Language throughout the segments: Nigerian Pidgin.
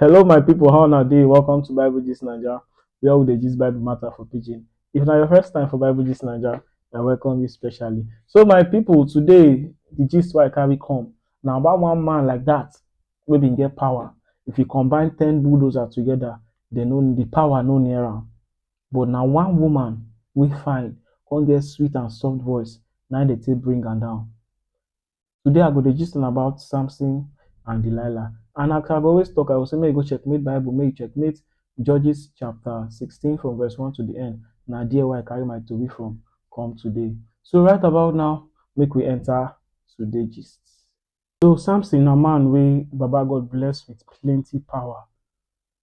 Hello my people, how una dey? Welcome to Bible Gist Naija, where we dey gist Bible matter for pidgin. If na your first time for Bible Gist Naija, I welcome you specially. So my people, today the gist wey I carry come na about one man like that wey bin get power. If you combine ten bulldozer together, dem no the power no near am. But na one woman wey fine come get sweet and soft voice na im dey take bring am down. Today I go dey gist una about Samson and Delilah and as I go always talk I go say make you go checkmate bible make you checkmate Judges chapter sixteen from verse one to the end na there wey I carry my tori from come today. So right about now make we enter today gist. So Samson na man wey baba God bless with plenty power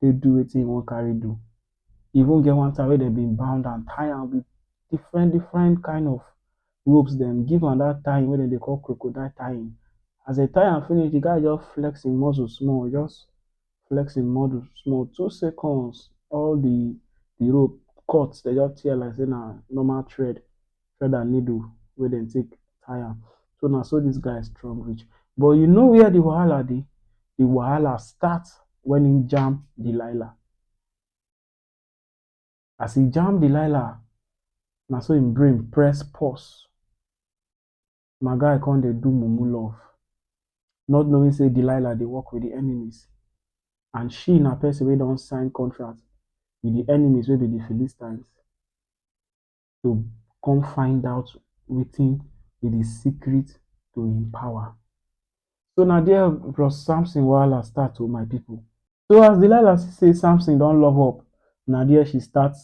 take do wetin e wan carry do. E even get one time wey dem been bound am, tie am with different different kind of ropes dem, give am dat tying wey dem dey call crocodile tying. As dem tie am finish, de guy just flex im muscle small, e just flex im muscle small, two seconds all de de rope cut, dem just tear like sey na normal thread. thread and needle wey dem take tie am. So na so dis guy strong reach. But you know where de wahala dey? De wahala start wen im jam Delilah. As e jam Delilah, na so im brain press pause. My guy come dey do mumu love, not knowing sey Delilah dey work wit de enemies and she na pesin wey don sign contract wit de enemies wey be de Philistines. to come find out wetin be the secret to him power. So na there Bros Samson wahala start o oh, my people. So as Delilah see say Samson don love up, na there she start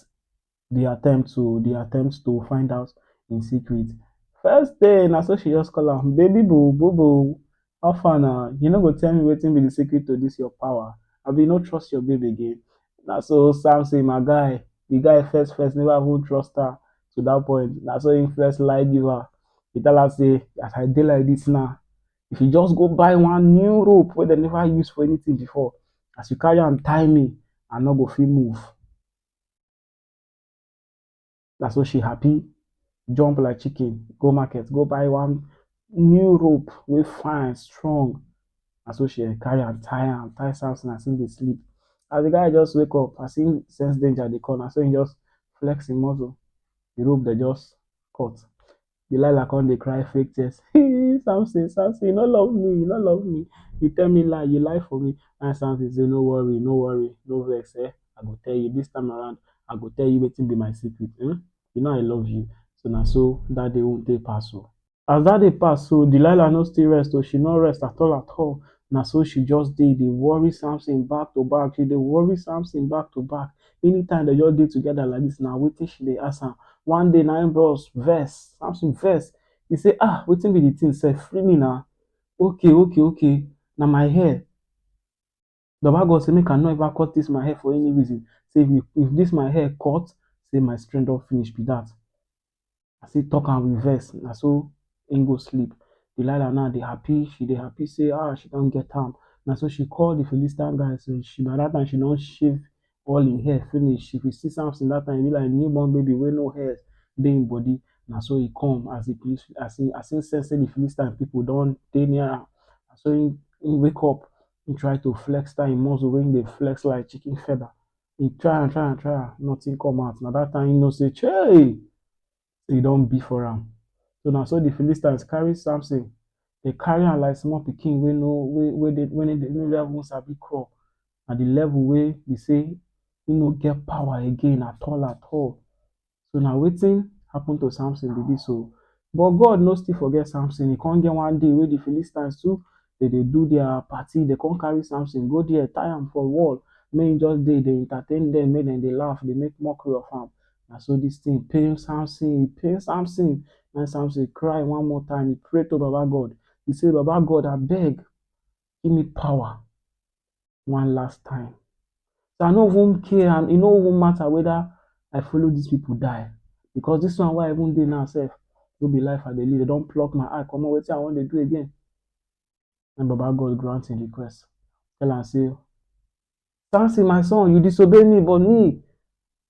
the attempt to the attempt to find out in secret. First day na so she just call am, baby boo, boo boo, How far na, you no go tell me wetin be the secret to this your power? Abi you no trust your babe again? Na so Sam say, my guy, the guy first first never even trust her to that point. Na so he first lie give her. He tell her say, as I dey like this now, if you just go buy one new rope wey dem never use for anything before, as you carry am tie me, I no go fit move. na so she happy jump like chicken go market go buy one new rope wey fine strong na so she carry am tie am tie Samson as him dey sleep as de guy just wake up as him sense danger dey come na so him just flex him muscle de rope dem just cut Delilah come dey cry fake tears. Hey, Samson, Samson, you no love me, you no love me. You tell me lie, you lie for me. And Samson say, no worry, no worry, no vex. Eh? I go tell you this time around. I go tell you wetin be my secret. Eh? You know I love you. So na so that day won't take pass. Oh. As that day pass, so Delilah no still rest. Oh, she no rest at all, at all. Now so she just did. They worry Samson back to back. She they worry Samson back to back. Anytime dem just dey together like dis na wetin she dey ask am. One day na im bros vex, Samson vex, e say um wetin be de thing sef, free me na, okay okay okay na my hair, baba God say make I no ever cut dis my hair for any reason, say if dis my hair cut, say my strength don finish be dat. I still talk am with vex, na so im go sleep. Delilah now dey happy, she dey happy sey um she don get am. Na so she call de Philistine guys, by dat time she don shave all im hair finish. If you see Samson dat time, e be like new born baby wey no hair dey im body. Na so e come as de as im as im sense sey de Philistine pipu don dey near am, na so im im wake up, im try to flex dat im muscle wey im dey flex like chicken feather. he try and try and try am, nothing come out. Na that time he know say, Chey! E don be for am. So na so the Philistines carry Samson, they carry am like small pikin wey no wey wey dey wey no dey no dey even sabi crawl. Na the level wey be say he no get power again at all at all. So na wetin happen to Samson be dis oh. But God no still forget Samson, e come get one day wey de Philistines too dey dey do their party, dey come carry Samson go there tie am for wall make im just dey dey entertain dem, make dem dey laugh, dey make mockery of am. Na so dis thing pain Samson, e pain Samson, na im Samson cry one more time, e pray to Baba God, e say Baba God abeg give me power. one last time. So I no even care and e no even matter whether I follow these people die because this one wey I even dey now sef no be life I dey live. They don pluck my eye comot wetin I wan dey do again. And Baba God grant him request. Tell am say, Samson my son you disobey me but me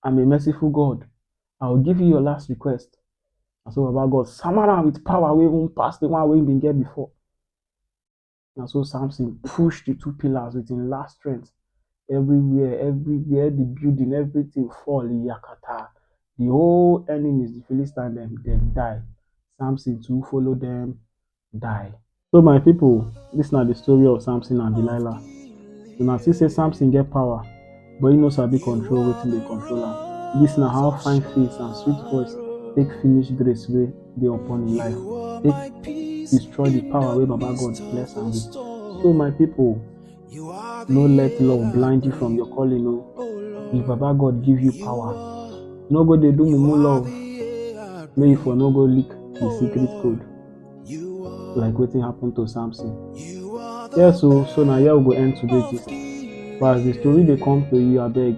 I'm a merciful God. I will give you your last request. Na so Baba God sama am with power wey even pass the one wey he been get before. Na so Samson push the two pillars with him last strength. Everywhere, everywhere, the building, everything fall yakata. The whole enemies, the Philistines, them, them die. Samson too follow them die. So my people, this na the story of Samson and Delilah. Una see say Samson get power. but e no sabi control wetin dey control am. Dis na how fine face and sweet voice take finish grace wey dey upon im life, take destroy the power wey Baba God bless am with. So my people, no let love blind you from your calling o. If Baba God give you power, no go dey do mumu love, make you for no go leak the secret code. like wetin happen to samson yes o so na here we go end today gist but as the story dey come to you abeg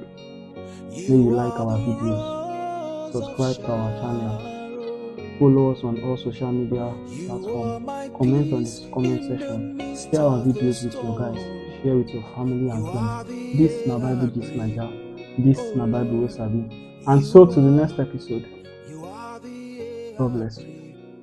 make you like our videos subscribe to our channel follow us on all social media platforms comment on the comment section share our videos with your guys share with your family and friends this na bible gist naija this na bible wey sabi and so to the next episode god bless you